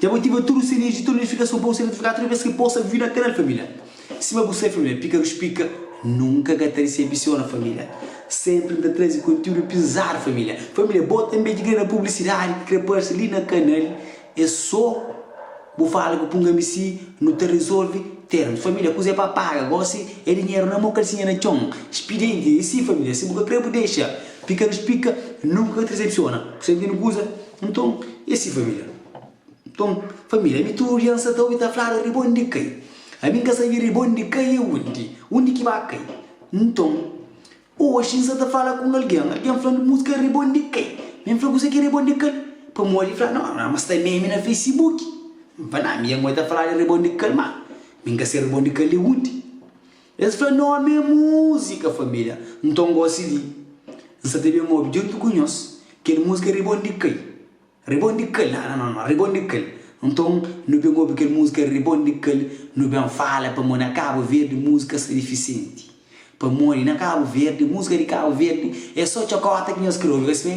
Dja bu ativa tudu sininhu di tudu notifikason pa bu ser notifikadu tudu bes ki posta vídiu na kanal família. Sima bu sabe família, Pika Rus Pika nunka ka ta disebisiona família. Sénpri N ta traze konteúdu pizadu família. Família, bo tanbê ki krê da publisidadi, ki krê parse li na kanal, é sô bu fala ku Punga-mi Si, nu ta rezolve termus. Família, kuzê pa paga? Gósi é dinheru na mô, kalsinha na txon. Spidienti é si família, si bu ka krê bu dexa. Pika Rus Pika nunka ka ta disebisiona. Bu sabe ken-li kuza? Nton, e si família? Nton, família, ami tudu dia N sa ta obi ta fladu, Riba undi kai? Ami N ka sabi riba undi kai e undi, undi ki ba kai. Nton, oxi N sa ta fala ku un algen, algen fla-m múzika riba undi kai. Mi N fla kuzê ki é riba undi kai? Pamodi el fla, no, no, ma sta meme na Facebook. N fla, na, ami e ngoi ta fla di riba undi kai, ma mi N ka sai riba undi kai li undi. Es fla, N ame múzika família. Nton gósi li N sa ta ben obi djuntu ku nhos kel múzika Ribonde Kai, Ribonde Kai, na na na, Ribonde Kai. Nton nu ben obi kel múzika Ribonde Kai, nu ben fala pamodi na Kabu Verdi múzika sta difisenti. Pamodi na Kabu Verdi, múzika di Kabu Verdi é sô txokota ki nhos krê obi, es fla.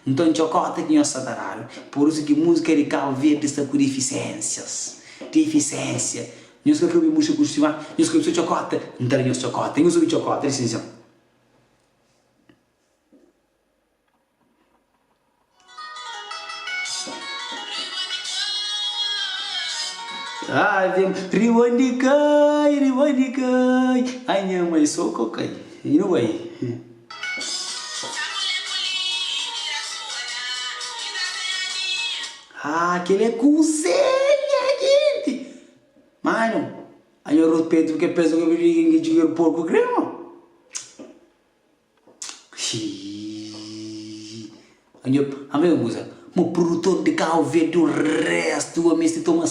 Nton txokota ki nhos sa ta dadu. Pur isu ki múzika di Kabu Verdi sta ku difisénsias, difisénsia. Nhos ka kabe murcha ku stima, nhos kabe so txokota, N ta da nhos txokota, nhos obi txokota di sinxon. Riba di kai, riba di kai, ai nha mai so ko kai, i nu bai. Haa kel é kuzê nha genti! Manu, anha rus pedru ke pes rubriga inge djuger porku grema? Xiii. Anha anha un kuza, mo produtor de Cabo Verde o resto o mesti toma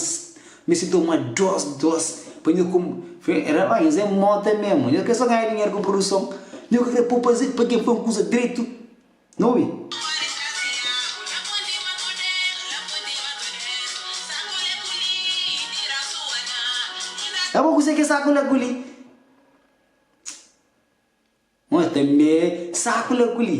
mesti toma dos dos pa nho kum fe era ba nhos é mota mesmo, nhos ke so ganha dinheiro ku produção, nhos ke kre popa zê pa ke fla un kuza dretu. N obi. É bo kuzê ki es saku la ku li? Nho tanbê saku la ku li.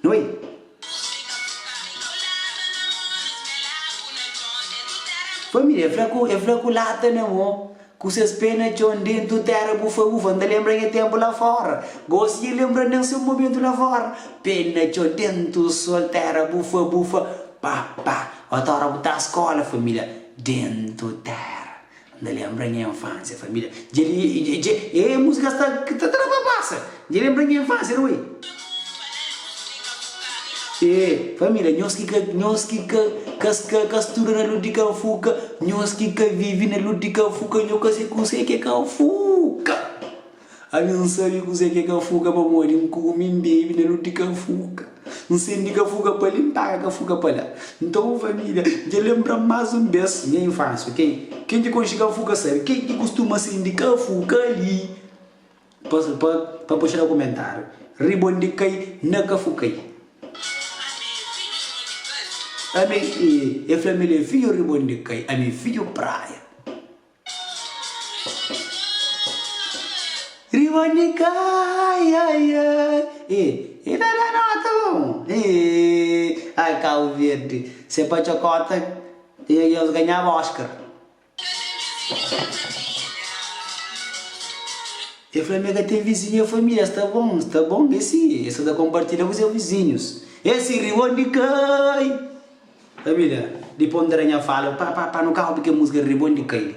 Noi. Família, el fla ku el fla ku lata na mô, ku ses pé na txon, Dentu téra bu fa bu fa, N ta lenbra nha ténpu la fóra, Gósi nha lenbra nen se un momentu la fóra, Pé na txon, dentu sól, téra bu fa bu fa, Pá pá, otora bu ta skóla, família, Dentu téra. Nda lenbra nha infância família dje li dje dje êêê música sta ki ta tra pa passa dje lenbra nha infância ri ui êêê família nhos ki ka nhos ki ka ka ska ka studa na lodi ka fuka nhos ki ka vivi na lodi ka fuka nho ka se kusé ki é ka fuka. Ami N sabe kuzê ki é kafuka pamodi N kume, N bebe na luti kafuka N sende kafuka pa li, N paga kafuka pa la Nton un família dja lenbra-m más un bês nha infânsia, ok Ken ki konxe kafuka sabe kel ki kustuma sende kafuka li Pa pa pa puxa na kumentáriu Riba undi kai na kafukai Ami, e, e fla-m el é fidju riba undi kai Ami é fidju praia. Riba di kai ai ai Ê, e ta da nota bon Ê, ai Cabo Verde Se pa txokota e nhos ganhaba Oscar E fla mi ka ten vizinhu E fla mi es ta bon, es ta bon E si, e sa ta konpartilha ku se vizinhus E si, riba di kai. Amília, Dipôs N ta da nha fala pa pa pa nu kaba bu kel múzika ri-ri bon di kai-li.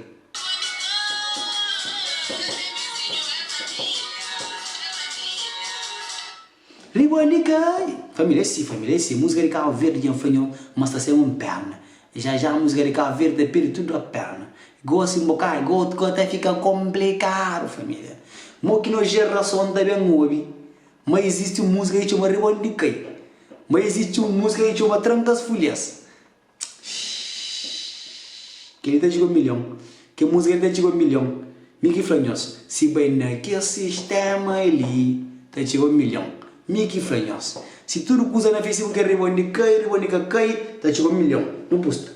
Ri bon di kai-li. Família, E si, família, e si, múzika di Kabu Verdi dja N fla nho ma sta sema un pérna. Ja ja múzika di Kabu Verdi ta perde tudu a pérna. Gósi n bo kai, go go ta fika konplikadu, família. Mo ki nos jerason ta ben obi. Ma izisti un múzika ki txoma Ribon di kai Ma izisti un múzika ki txoma Tranka as fulhas Shhh Kel li ta txiga milhon Kel múzika li ta txiga milhon Mi ki fla nhos Si bai na kel sistéma li Ta txiga milhon Mi ki fla nhos Si tudu kuza na Facebook é Ribon di kai Ribon di ka kai Ta txiga milhon Nu pusta.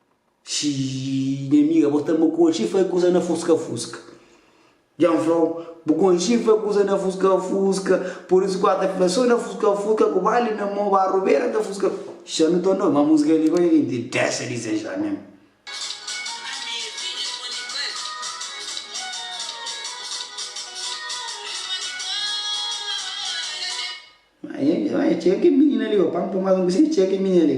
Xii, nha amiga, bo sta ma konxi fai kusa na fuska-fuska. Dja N fla-u, bu konxi fai kusa na fuska-fuska, pur isu ku a ta fla so na fuska-fuska ku bali na mô, ba rubera ta fuska. Xixi, N ta nau, ma musika li pa nha ki dexa dizexa men. Nha amiga, ma nha txeka kel minina li, pa N pô más un kusinha, nha txeka kel minina li.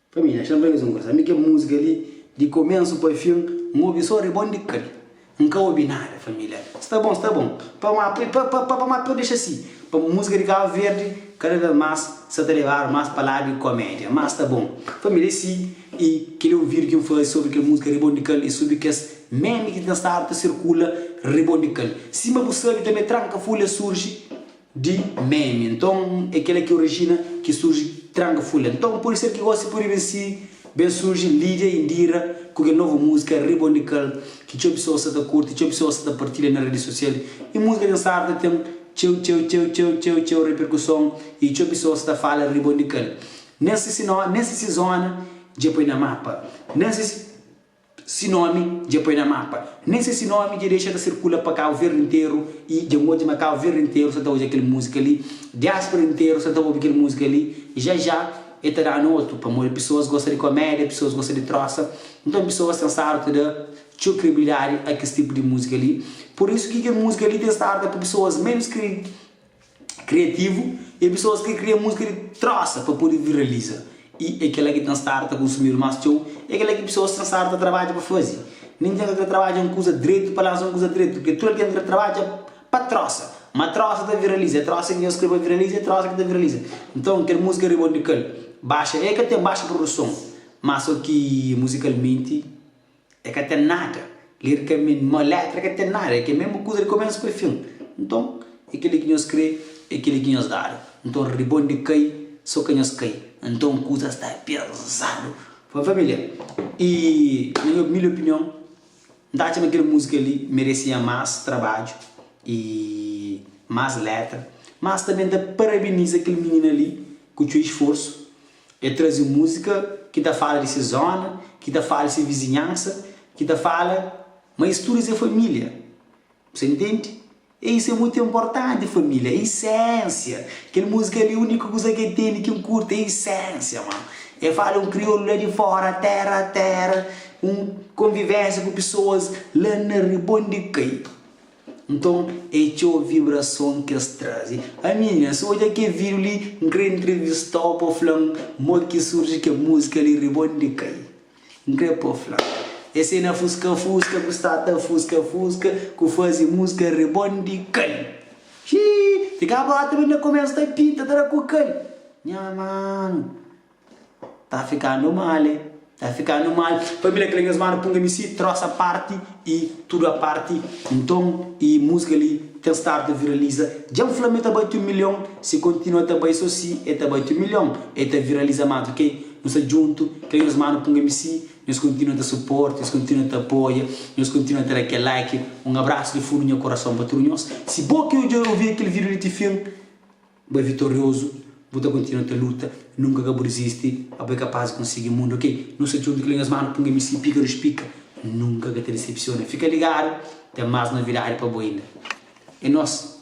Pa mi, axa-m raiba-s un gosa. Mi kel múzika li, di komensu pa fin, N obi sô ribondikal. N ka obi nada, família. Sta bon, sta bon. Pa má, pa, pa, pa, pa má, pa dexa si. Pa múzika di Kabu Verdi, kada vês más, sta ta leba-nu más pa ladu di komédia. Má sta bon. Família, es si i kel é un vídiu ki N faze sobri kel múzika ribondikal i sobri kes meme ki ten stadu ta sirkula ribondikal. Sima bu sabe tanbê, Tranka Fúlia surji. Di meme nton é kel la ki orijina ki surji tranga fula nton pode ser ki gosi pode ben si ben surji lidia indira ku kel novu musika riba undi kal ki txeu pesoas sa ta kurti txeu pesoas sa ta partilha na redi sosial i musika ten sartu ta ten txeu txeu txeu txeu txeu txeu reperkuson i txeu pesoas sa ta fala riba undi kal nen si si nen si si zona dja poi na mapa nen si si. Si nómi dja poi na mapa. Nen se si nómi dja dexa ta sirkula pa Kabu Verdi nteru i dja N odja ma Kabu Verdi nteru sta ta odja kel múzika li, diáspora nteru sta ta obi kel múzika li i ja-ja el ta da-nu otu pamodi pesoas gosta di komédia, pesoas gosta di trósa. Nton pesoas ten stadu ta da txeu kredibilidadi a kes tipu di múzika li. Pur isu ki kel múzika li ten stadu ta poi pesoas ménus kri. Kriativu é pesoas ki kria múzika di trosa pa pode viraliza i é kel-la ki ten stadu ta konsumidu más txeu. É kel-la ki pesoas ten stadu ta trabadja pa faze. Ninhun ka krê trabadja un kuza dretu pa lansa un kuza dretu, purkê tudu algen ta krê trabadja pa trosa. Má trosa ta viraliza, é trosa ki nhos krê pa viraliza, é trosa ki ta viraliza. Nton, kel múzika riba un di kel, baxa, el ka ten baxa produson, má sô ki muzikalmenti É ka ten nada. Lirikamenti, ma létra ka ten nada. É kel mésmu kuza di komésu pa fin. Nton, é kel-li ki nhos krê, é kel-li ki nhos dadu. Nton, ribon di kai, so ka nhos kai. Nton, kuza sta pezadu. Bon, família, i na nha umildi opinion, N ta atxa ma kel múzika li meresia más trabadju i más létra. Mas tanbê N ta parabeniza kel minina li ku txeu isforsu El traze múzika ki ta fala di se zóna, ki ta fala di se vizinhansa, ki ta fala ma es tudu es é família. Bu sta ntende? E isu é mutu inportanti, família é isénsia. Kel múzika li, úniku kuza ki el tene ki N kurti é isénsia, ma el fala un kriolu la di fóra, téra a téra, un konvivénsia ku pesoas la na ribon di kai. Nton é txeu vibrason ki es traze. Aminha, si odja kel vídiu li, N krê intrivista-u pa fla-m modi ki surji kel múzika li Ribon di Kai. N krê pa fla, es é na fuska-fuska ku sta ta fuska-fuska ku faze múzika Ribon di Kai. Xii! Ti ka bota mi na kumesa ta pinta ta da ku kal. Nha mano! Ta fikandu mal e ta fikandu mal Família kle nhos manu punga mi si Trosa parti i tudu a parti Nton i múzika li ten stadu ta viraliza Dja-m fla ma e ta bati un milhon Si kontinua ta bai so si e ta bati un milhon E ta viraliza más ok Nu sta djuntu kle nhos manu punga mi si Nhos kontinua ta suporta nhos kontinua ta apoia Nhos kontinua ta da kel like Un abrasu di fundu nha kurason pa tudu nhos Si bo ki odja i ouvia kel vídiu li ti fin Bu é vitoriozu, bu ta kontinua ta luta, nunka ka bu dizisti, ma bu é kapaz di konsigi mundu, ok. Nu sta djuntu, klinga es manu, punga mi si pika, dus pika, nunka ka ta disepsiona, fika ligadu, ten más novidadi pa bu inda, é nos.